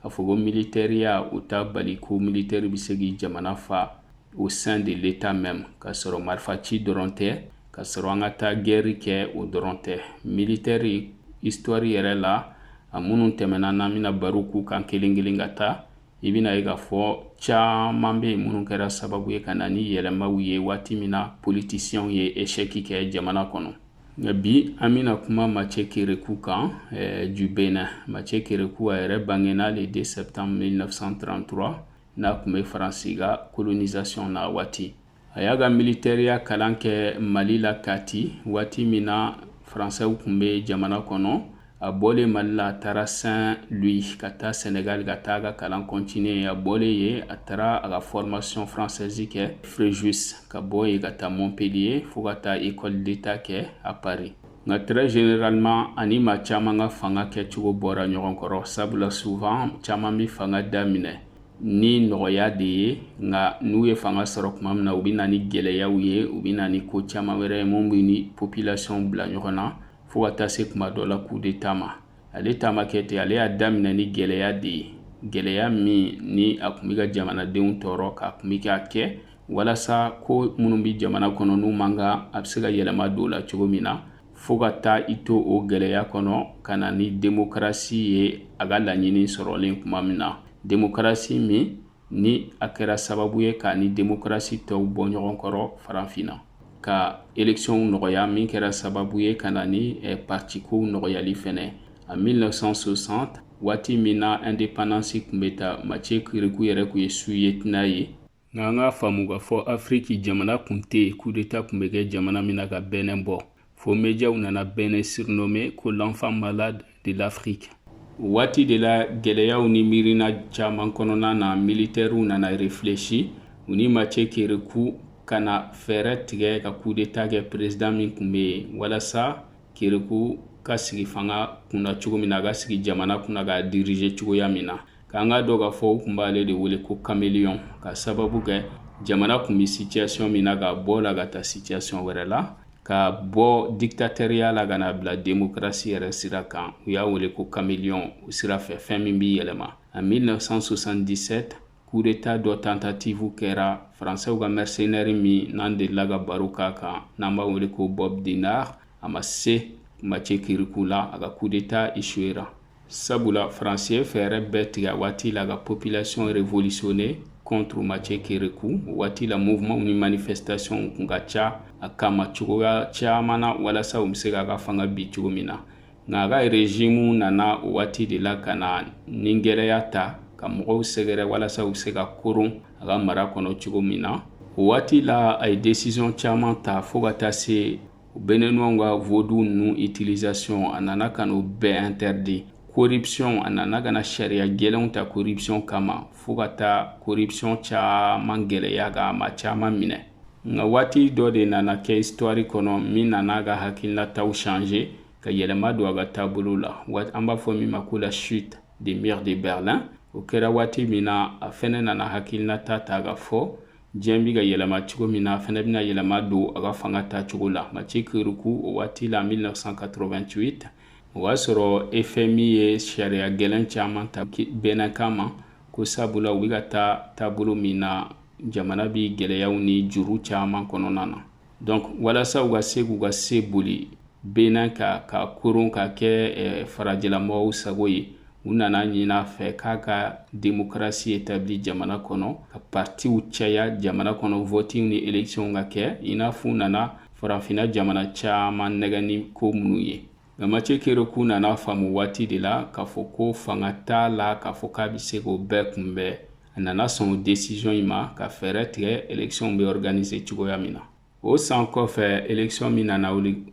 k'a fɔ ko militɛriya o t'a bali ko militɛri bɛ se k'i jamana fa au sein de l'État même k'a sɔrɔ marifaci dɔrɔn tɛ k'a sɔrɔ an ka taa gɛri kɛ o dɔrɔn tɛ militɛri histoire yɛrɛ la a minnu tɛmɛna n'an bɛna baro k'u kan kelen kelen ka taa i bɛna ye k'a fɔ caman bɛ yen minnu kɛra sababu ye ka na ni yɛlɛmaw ye waati min na politisiyɛnw ye eshɛki kɛ jamana kɔnɔ bi an bɛna kuma Mathieu Kérékou kan eh, du Bénin. Mathieu Kérékou a yɛrɛ bangena le 2 septembre 1933 n'a tun bɛ Faransi ka colonisation na waati. A y'a ka militɛriya kalan kɛ Mali la Kati waati min na Faransɛw tun bɛ jamana kɔnɔ a bɔlen mali la a taara saint-louis ka taa senegal ka taa ka kalan continuer a bɔlen yen a taara a ka formation française kɛ fréjus ka bɔ yen ka taa montpellier fo ka taa école d'état kɛ à paris nka très généralement a ni maa caman ka fanga kɛcogo bɔra ɲɔgɔn kɔrɔ sabula souvent caman bɛ fanga daminɛ ni nɔgɔya de ye nka n'u ye fanga sɔrɔ tuma min na u bɛ na ni gɛlɛyaw ye u bɛ na ni ko caman wɛrɛ ye min bɛ ni population bila ɲɔgɔn na fo ka taa se tuma dɔ la coup d'état ma ale ta ma kɛ ten ale y'a daminɛ ni gɛlɛya de ye gɛlɛya min ni a tun bɛ ka jamanadenw tɔɔrɔ k'a tun bɛ k'a kɛ walasa ko minnu bɛ jamana kɔnɔ n'u man kan a bɛ se ka yɛlɛma don la cogo min na fo ka taa i to o gɛlɛya kɔnɔ ka na ni demokarasi ye a ka laɲini sɔrɔlen tuma min na demokarasi min ni a kɛra sababu ye k'a ni demokarasi tɔw bɔ ɲɔgɔn kɔrɔ farafinna ka elɛkisiyɔnw nɔgɔya min kɛra sababu ye ka na ni eh, partikow nɔgɔyali fɛnɛ en 1960 waati min na indépendance tun bɛ ta Mathieu Kérékou yɛrɛ tun ye sous-lieutenant ye nka an k'a faamu k'a fɔ afiriki jamana tun tɛ yen kudeta tun bɛ kɛ jamana min na ka Bénin bɔ Fo mɛdiyaw nana Bénin surnommé ko l'enfant malade de l'Afrique. Waati de la gɛlɛyaw ni miirina caman kɔnɔna na militɛriw nana réfléchi u ni Mathieu Kérékou ka na fɛɛrɛ tigɛ ka coup d'état kɛ président min tun bɛ yen walasa Kérékou ka sigi fanga kunna cogo min na a ka sigi jamana kunna k'a diriger cogoya min na K'an k'a dɔn k'a fɔ u tun b'ale de wele ko kameliyɔn k'a sababu kɛ jamana tun bɛ situation min na k'a bɔ la ka taa situation wɛrɛ la k'a bɔ diktatɛriya la ka na a bila demokarasi yɛrɛ sira kan u y'a wele ko kameliyɔn o sira fɛ fɛn min b'i yɛlɛma en 1977 kudeta dɔ tentative kɛra faransɛw ka mercenaire min n'an delila ka baro k'a kan n'an b'a wele ko Bob Denard a ma se Mathieu Kérékou la a ka kudeta échouera sabula faransi ye fɛɛrɛ bɛɛ tigɛ a waati la ka population révolutionner contre Mathieu Kérékou o waati la mouvement ni manifestation kun ka ca a kama cogoya caman na walasa u bɛ se k'a ka fanga bin cogo min na nka a ka régime nana o waati de la ka na ni gɛlɛya ta ka mɔgɔw sɛgɛrɛ walasa u bɛ se ka koron a ka mara kɔnɔ cogo min na o waati la a ye décision caman ta fo ka taa se Béninois ka vaudou ninnu utilisation a nana ka n'o bɛɛ interdit corruption a nana ka na sariya gɛlɛnw ta corruption kama fo ka taa corruption caman gɛlɛya ka ma caman minɛ nka waati dɔ de nana kɛ histoire kɔnɔ min nana a ka hakilinataw changer ka yɛlɛma don a ka taabolo la waati an b'a fɔ min ma ko la chute du mur de Berlin o kɛra waati min na a fɛnɛ nana hakilinata ta ka fɔ diɲɛ bɛ ka yɛlɛma cogo min na fɛnɛ bɛna yɛlɛma don a ka fanga ta cogo la Mathieu Kérékou o waati la 1988 o y'a sɔrɔ FMI ye sariya gɛlɛn caman ta Bénin kama ko sabula u bɛ ka taa taabolo min na jamana bɛ gɛlɛyaw ni juru caman kɔnɔna na donc walasa u ka se k'u ka se boli Bénin kan ka koron ka kɛ eh, farajɛlamɔgɔw sago ye u nana ɲin'a fɛ k'a ka demokarasi etabli jamana kɔnɔ ka partiw caya jamana kɔnɔ vɔtiw ni elekisiyɔnw ka kɛ i n'a fɔ u nana farafinna jamana caaman nɛgɛn ni ko minnu ye nka Mathieu Kérékou nana faamu waati de la k'a fɔ ko fanga t'a la k'a fɔ k'a bɛ se k'o bɛɛ kunbɛn a nana sɔn o decision in ma ka fɛɛrɛ tigɛ election bɛ organiser cogoya min na o san kɔfɛ election min nana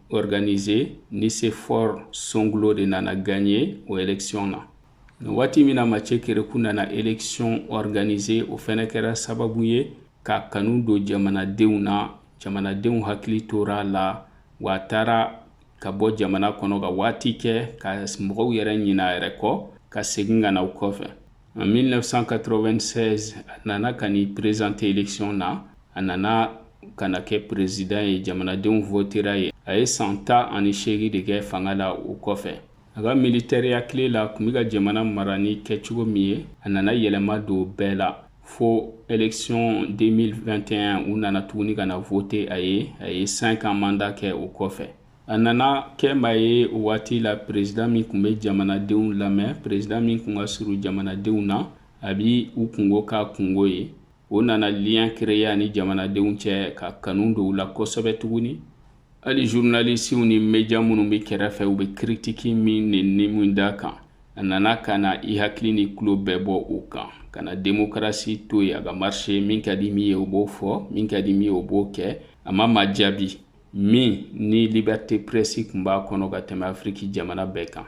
organiser Nicéphore Soglo de nana gagner o election na waati min na Mathieu Kérékou nana election organiser o fɛnɛ kɛra sababu ye ka kanu don jamanadenw na jamanadenw hakili tora a la wa a taara ka bɔ jamana kɔnɔ ka waati kɛ ka mɔgɔw yɛrɛ ɲina a yɛrɛ kɔ ka segin ka na o kɔfɛ en 1996 a nana ka n'i présenter election na a nana ka na kɛ perezidan ye jamanadenw votera a ye a ye san tan ani seegin de kɛ fanga la o kɔfɛ a ka militɛriya tile la kun bɛ ka jamana mara ni kɛcogo min ye a nana yɛlɛma don bɛɛ la fo election 2021 u nana tuguni ka na vote a ye a ye 5 ans mandat kɛ o kɔfɛ a nana kɛ maa ye o waati la president min kun bɛ jamanadenw lamɛn president min kun ka surun jamanadenw na a bi u kunko k'a kunko ye o nana lien créer a ni jamanadenw cɛ ka kanu don u la kosɛbɛ tuguni hali zurunalisiw ni meja minnu bɛ kɛrɛfɛ u bɛ kiritiki min ni ni min da kan a nana ka na i hakili ni tulo bɛɛ bɔ o kan ka na demokarasi to yen a ka marise min ka di min ye o b'o fɔ min ka di min ye o b'o kɛ a ma maa jaabi min ni libɛrite prɛsi kun b'a kɔnɔ ka tɛmɛ afiriki jamana bɛɛ kan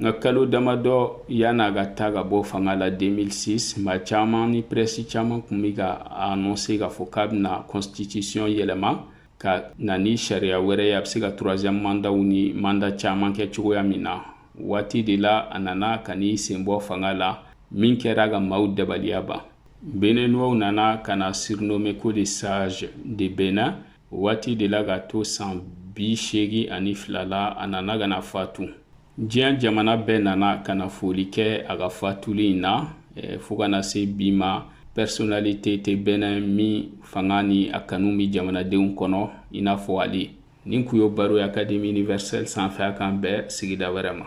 nka kalo damadɔ yann'a ka taa ka bɔ fanga la 2006 maa caman ni prɛsi caman kun bɛ ka anɔnse k'a fɔ k'a bɛna kɔnstitisiyɔn yɛlɛma ka na ni sariya wɛrɛ ye a bɛ se ka turuwaziyɛmu mandaw ni manda caman kɛ cogoya min na waati de la a nana ka n'i sen bɔ fanga la min kɛra ka maaw dabaliya ban beninuwaw nana ka na sirinome ko le sazi de benɛn waati de la ka to san bi seegin ani fila la a nana ka na fatu diɲɛ jamana bɛɛ nana ka na foli kɛ a ka fatuli in na eh, fo ka na se bi ma pɛrisonalite tɛ benɛn min fanga ni a kanu bɛ jamanadenw kɔnɔ i n'a fɔ ale nin kun y'o baro ye akademi universɛl sanfɛ a k'an bɛn sigida wɛrɛ ma